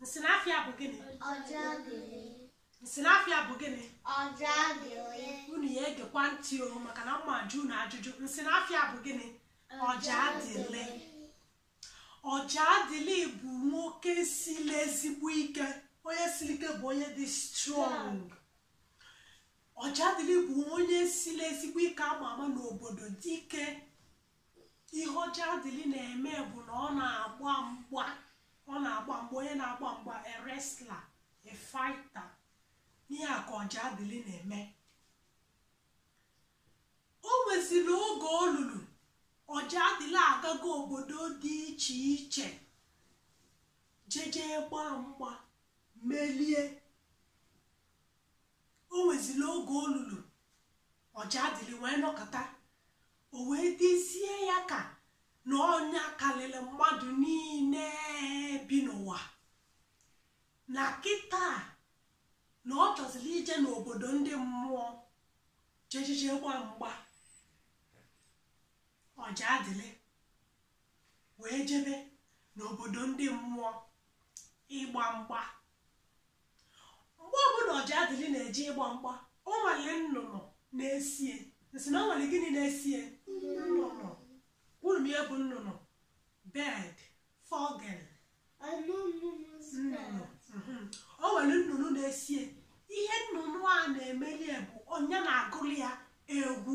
Nsị na afa ya bụ gịnị? Nsị na afa ya bụ gịnị? Unu ya egekwa ntị o maka na m ma-ajụ unu ajụjụ. Nsị na afa ya bụ gịnị? Ọjadịlị. Ọjadịlị bụ nwoke siri ezigbo ike. Onye siri ike bụ onye dị strong. Ọjadịlị bụ onye siri ezigbo ike ama ama n'obodo dike ihe ọjadịlị na-eme bụ na ọ na-agba mgba ọ na-agba mgba onye na-agba mgba a wrestler a fighter ihe a ka ọjadịlị na-eme o nweziri oge o lulu ọjadịlị agago obodo dị iche iche jeje gbaa mgba melie o nweziri oge o lulu ọjadịlị wee nọkọta o wee dịzie ya ka na ọ nya karịrị mmadụ niile bi n'ụwa na kịta na ọ chọziri ije n'obodo ndị mmụọ jejije gbaa mgba ọjadịlị wee jebe n'obodo ndị mmụọ ịgba mgba mgbe ọbụla ọjadịlị na-eje ịgba mgba o nwere nnụnụ na-eso ya nsị na o nwere gịnị na-eso ya nnụnụ unu ma ihe bụ nnụnụ bird vogel nnụnụ mhm. o nwere nnụnụ na-eso ya ihe nnụnụ a na-emeli bụ onye na-agụrụ ya egwu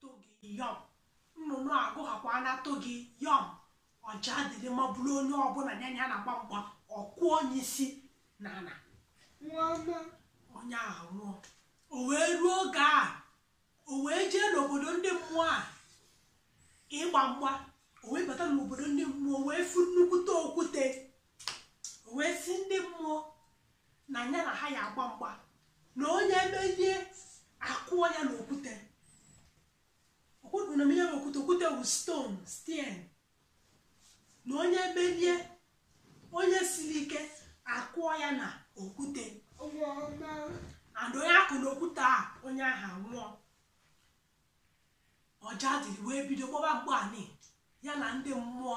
togi yọm nnụnụ agụghakwa na togi yọm ọjadịlị maburu onye ọbụla ya na ya na-agba mgba ọ kụọ onye isi na ala onye ahụ nwụọ o wee ruo oge a o wee jee n'obodo ndị mmụọ a ịgba mgba o wee bata n'obodo ndị mmụọ wee fụ nnukwute okwute o wee sị ndị mmụọ na ya na ha ya agba mgba na onye melie a kụọ ya na okwute unu ma ihe okwute okwute bụ stone steen na onye melie onye siri ike a kụọ ya na okwute and onye a kụ na okwute a onye ahụ anwụọ ọjadịlị wee bido gbaba mgba nị ya na ndị mmụọ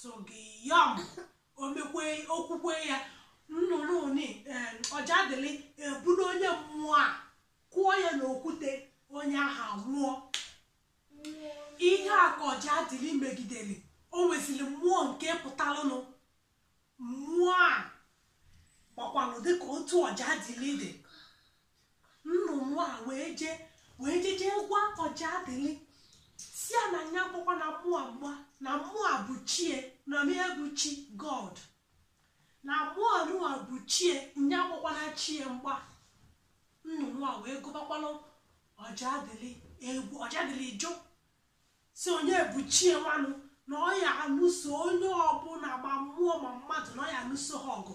togi yọm o mekwe okwukwe ya nnụnụ nị ọjadịlị ebulu onye mmụọ a kụọ ya n'okwute onye ahụ anwụọ ihe a ka ọjadịlị megidere o nweziri mmụọ nke pụtalụnụ mmụọ a gbakwanụ dịka otu ọjadịlị dị nnụnụ a wee jee wee jeje gwa ọjadịlị sị ya na nya agbakwana mmụọ a mgba na mmụọ a bụ chie na ị ma ihe bụ chi god na mmụọ nụwa bụ chie nya agbakwana chie mgba nnụnụ a wee gụbakwalụ ọjadịlị egwu ọjadịlị jụ sị onye bụ chie nwanụ na ọ ya anụso onye ọbụla ma mmụọ ma mmadụ na ọ ya anụso ha ọgụ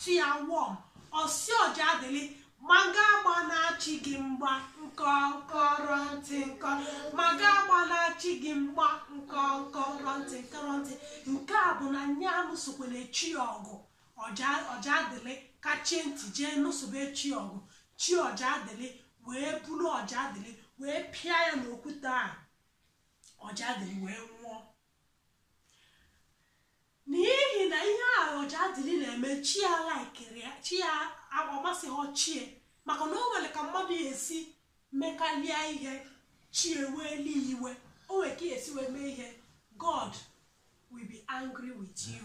chi ya wụọ ọ sị ọjadịlị ma gị agbana chi gị mgba nkọ nkọrọ ntị nkọ ma gị agbana chi gị mgba nkọ nkọrọ ntị nkọrọ ntị nke a bụ na nye anụsokwana chi ya ọgụ ọjadịlị kachie ntị jee nụsobe chi ya ọgụ chi ọjadịlị wee buru ọjadịlị wee pịa ya n'okwute a ọjadịlị wee nwụọ n'ihi na ihe ahụ ọjadịlị na-eme chi ya alaikirọ ya chi ya ọ masịhọ chie maka na o nwere ka mmadụ ya-esi mekalịa ihe chie ewelu iwe o nwere ka ị ya-esi wee mee ihe god will be angry with you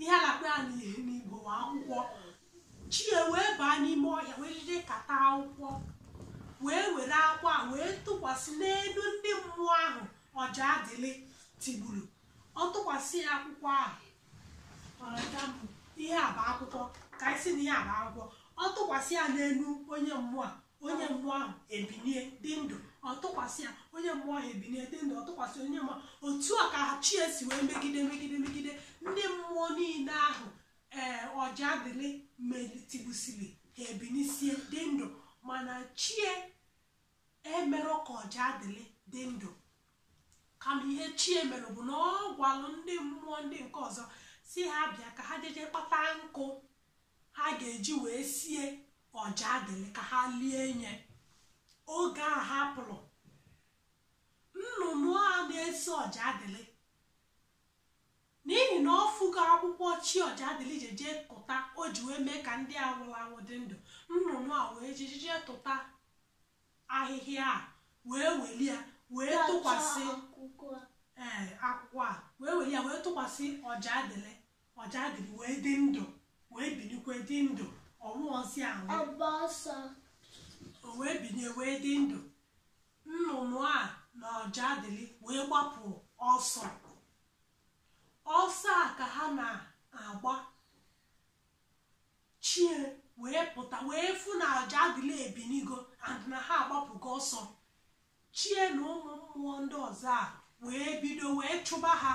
ihe a na-akpọ ya n'igbo bụ akwụkwọ chi ya wee baa n'ime ọhịa wee jeje kata akwụkwọ wee were akwụkwọ ahụ wee tụkwasị n'elu ndị mmụọ ahụ ọjadịlị tigburu ọ tụkwasị ya akwụkwọ ahụ ọja mbụ ihe a bụ akwụkwọ ka anyị sị na ihe a bụ akwụkwọ ọ tụkwasị ya n'elu onye mmụọ a onye mmụọ ahụ ebinie dị ndụ ọ tụkwasị ya onye mmụọ ahụ ebinie dị ndụ ọ tụkwasị onye mmụọ otu a ka chi ya si wee megide megide megide ndị mmụọ niile ahụ ee ọjadịlị me tigbusiri ha ebinisie dị ndụ mana chie emerọ ka ọjadịlị dị ndụ kama ihe chie mere bụ na ọ gwalụ ndị mmụọ ndị nke ọzọ sị ha bịa ka ha jeje kpata nkụ ha ga-eji wee sie ọjadịlị ka ha lie nye oge ha pụrụ nnụnụ a na-eso ọjadịlị n'ihi na ọ fụgo akwụkwọ chi ọjadịlị jeje tụta o ji wee mee ka ndị a nwụrụ anwụ dị ndụ nnụnụ a wee jejeje tụta ahịhịa a wee weli ya wee tụkwasị ee akwụkwọ a wee weli ya wee tụkwasị ọjadịlị Ọjadịlị wee dị ndụ, wee binikwe dị ndụ, ọ nwụrọzi anwụ. O wee binie wee dị ndụ. Nnụnụ a na Ọjadịlị wee gbapụ ọsọ. Ọsọ a ka ha na-agba. Chie wee pụta wee fụ na Ọjadịlị ebinigo and na ha agbapụgo ọsọ. Chie na ụmụ mmụọ ndị ọzọ a wee bido wee chụba ha.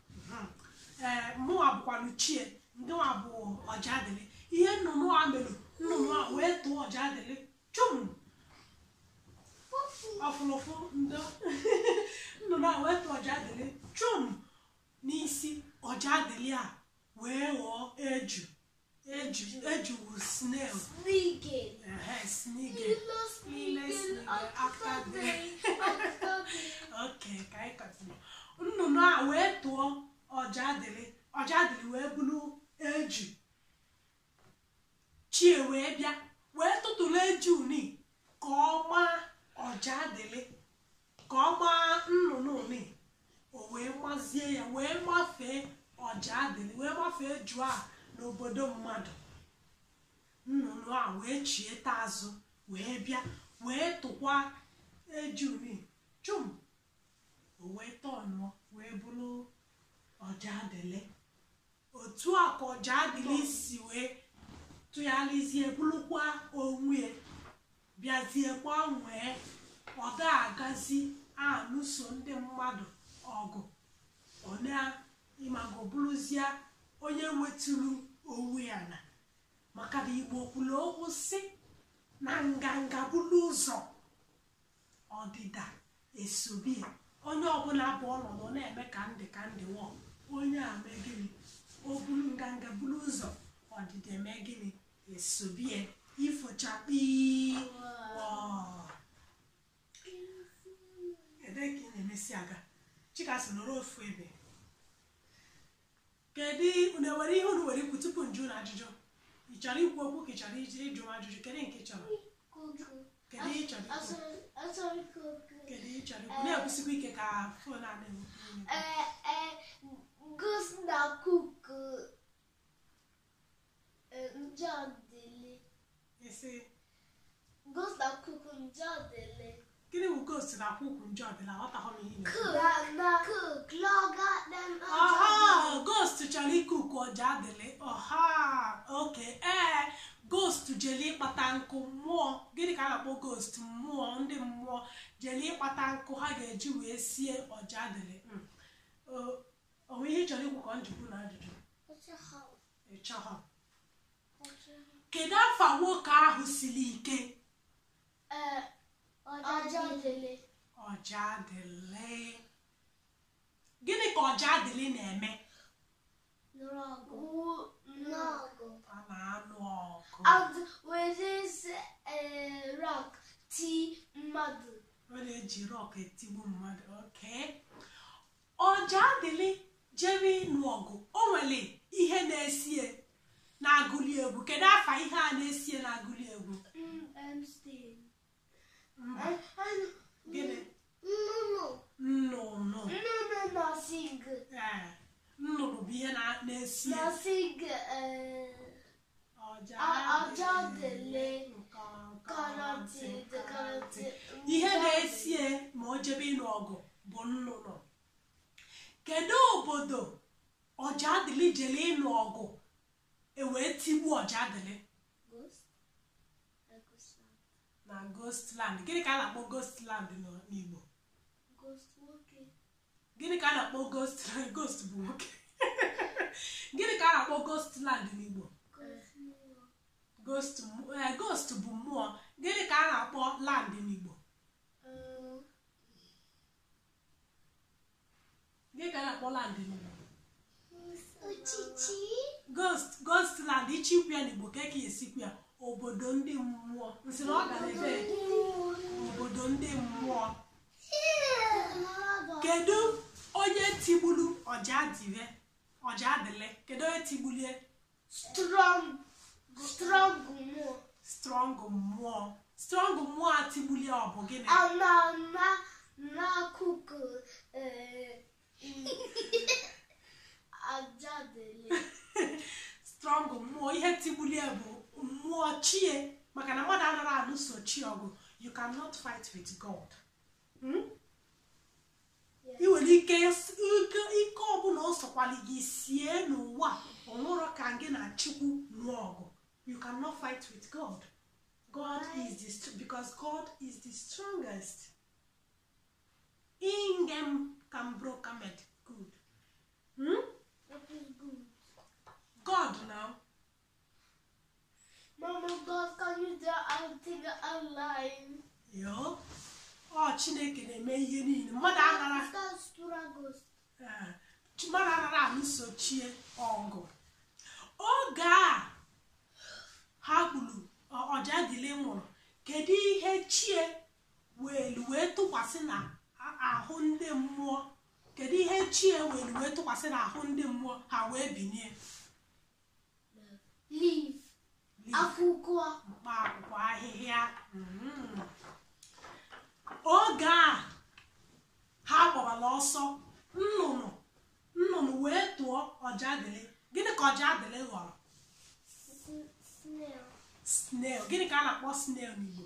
ee mụnwa bụkwanụ chie ndịnwa bụ ọjadịlị ihe nnụnụ a mere nnụnụ a wee tụọ ọjadịlị chum ọ fụlụ ụfụ ndo nnụnụ a wee tụọ ọjadịlị chum n'isi ọjadịlị a wee ghọọ eju eju wụ snail Snigel. ehe snigel Lilla snigel akta dig. Akta dig. oke ka anyị katụrụ nnụnụ a wee tụọ ọjadịlị ọjadịlị wee bụrụ eju chie wee bịa wee tụtụrụ eju ni ka ọ maa ọjadịlị ka ọ maa nnụnụ ni o wee mazie ya wee mafee ọjadịlị wee mafee eju a n'obodo mmadụ nnụnụ a wee chieta azụ wee bịa wee tụkwa eju ni chum o wee tọnụọ wee bụrụ ọjadịlị otu a ka ọjadịlị si wee tụgharịzie bụrụkwa onwe bịazie gbanwee ọ da-agazi anụso ndị mmadụ ọgụ ọ na ị mago bụrụzie onye weturu onwe ya ana maka na igbo kwuru okwu sị na nganga buru ụzọ ọdịda esobe ya onye ọbụla buru ọnụ na-eme ka ndị ka ndị nwụọ onye a mee gịnị o buru nganga buru ụzọ ọdịda eme gịnị esobe ya ifo chakpii wọọ. ebee ka ị na-emesi aga chikasị nọrọ ofu ebe Kedu unu nwere ihe unu nwere ikwu tupu m jụ unu ajụjụ? Ị chọrọ ikwu okwu ka ị chọrọ iji ịjụ m ajụjụ kedu nke ị chọrọ? Kedu ihe ị chọrọ ikwu? Kedu ihe ị chọrọ ikwu? Na-ekwusikwa ike ka fon a na-anụ. Ghost na-cook. Ọjadịlị. Ị sị? Ghost na-cook ọjadịlị. Gịnị bụ ghost na-cook ọjadịlị? Aghọtaghị m ihe ị na-ekwu. Cook. Na- na- Cook. Laga dem ọjadịlị. Aha! Ghost chọrọ i-cook ọjadịlị. Aha! Oke. Ee, ghost jeli ịkpata nkụ mmụọ. Gịnị ka a na-akpọ ghost? Mmụọ, ndị mmụọ jeli ịkpata nkụ ha ga-eji wee sie ọjadịlị. Mm. O- O nwere ihe ị chọrọ ikwu ka ọ m jụkwu unu ajụjụ? Ị chọhọ. kedu afa nwoke ahụ siri ike ọjadịlị gịnị ka ọjadịlị na-eme a na-anụ ọgụ and with this uh, rock ti mmadụ ọ na-eji rock etigbu mmadụ oke Ọjaadịlị jere ịnụ ọgụ, o nwere ihe na-esie na-agụli egwu. Kedu afa ihe a na-esie na-agụli egwu? Gịnị? Nnụnụ. Ee, nnụnụ bụ ihe na- na-esie. ihe na-esie ma o jebe ịnụ ọgụ bụ nnụnụ kedu obodo Ọjaadịlị jele ịnụ ọgụ e wee tigbuo Ọjaadịlị na ghost land gịnị ka a na-akpọ ghost land n'igbo gịnị ka a na-akpọ ghost land ghost bụ nwoke gịnị ka a na-akpọ ghost land n'Igbo ghost eh, ghost bụ mmụọ gịnị ka a na-akpọ land n'Igbo Gịnị ka a na-akpọ land n'Igbo? Ochichi. Ghost, ghost land, ị chọ ikwu ya n'Igbo kee ka e si ekwu ya obodo ndị mmụọ. M sị na ọ gara ebe obodo ndị mmụọ. Kedu onye tigbulu Ọjaadịlị? Ọjaadịlị, kedu onye tigbulie? strong strong mmụọ strong mmụọ strong mmụọ a tigbulie ọ bụ gịnị ama ama n'akụkọ eh, Ọjaadịlị strong mmụọ ihe tigbuli ya bụ mmụọ chie maka na mmadụ anara alụso chie ọgụ you cannot fight with God hmm? i nwere ike ike ọbụla ọ sọkwali gị sie n'ụwa o nwerọ ka gị na Chukwu nụọ ọgụ you cannot fight with god god is the because god is the strongest ingem kambrokamed good hmm? god now Mama God, can you do everything online? Yoo, ọ Chineke na-eme ihe niile. Mmadụ anara Start struggles. eh, chi- mmadụ anara alụso chie ọgụ. Oge a ha gburu ọ- Ọjaadịlị nwụrụ, kedu ihe chie welu wee tụkwasị na a- ahụ ndị mmụọ? Kedu ihe chie welu wee tụkwasị na ahụ ndị mmụọ ha wee binie? leaf akwụkwọ mkpa akwụkwọ ahịhịa mm. oge a ha gbabara ọsọ nnụnụ nnụnụ wee tụọ Ọjaadịlị gịnị ka Ọjaadịlị ghọrọ snail gịnị ka a na-akpọ snail n'Igbo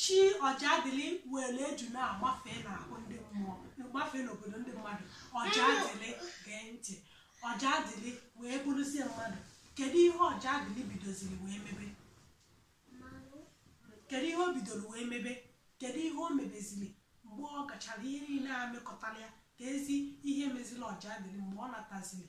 chi ọjadịlị were eju na-agbafe n'ahụ ndị mmụọ gbafe n'obodo ndị mmadụ ọjadịlị gee ntị ọjadịlị wee bụrụzie mmadụ kedu ihe ọjadịlị bidoziri wee mebe kedu ihe o bidoro wee mebe kedu ihe o mebeziri mgbe ọ gachara ihe niile a mekọtara ya kezi ihe meziri ọjadịlị mgbe ọ nataziri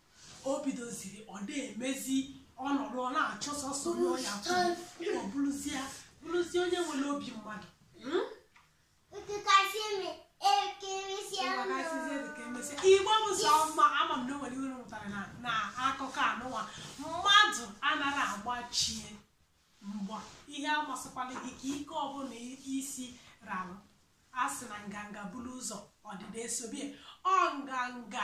o bidoziri ọ na-emezi ọ nọdụ ọ na-achọ sọsọ onye ọ ya kwụ ọ bụrụzie bụrụzie onye nwere obi mmadụ Hmm? igbo bụ sọ mma ama m na o nwere ihe unu mụtara na na akụkọ a nụwa mmadụ anaghị agba chi ya mgba ihe amasịkwala gị ka ike ọbụla i si ralụ a sị na nganga buru ụzọ ọdịda esobe ya ọ nganga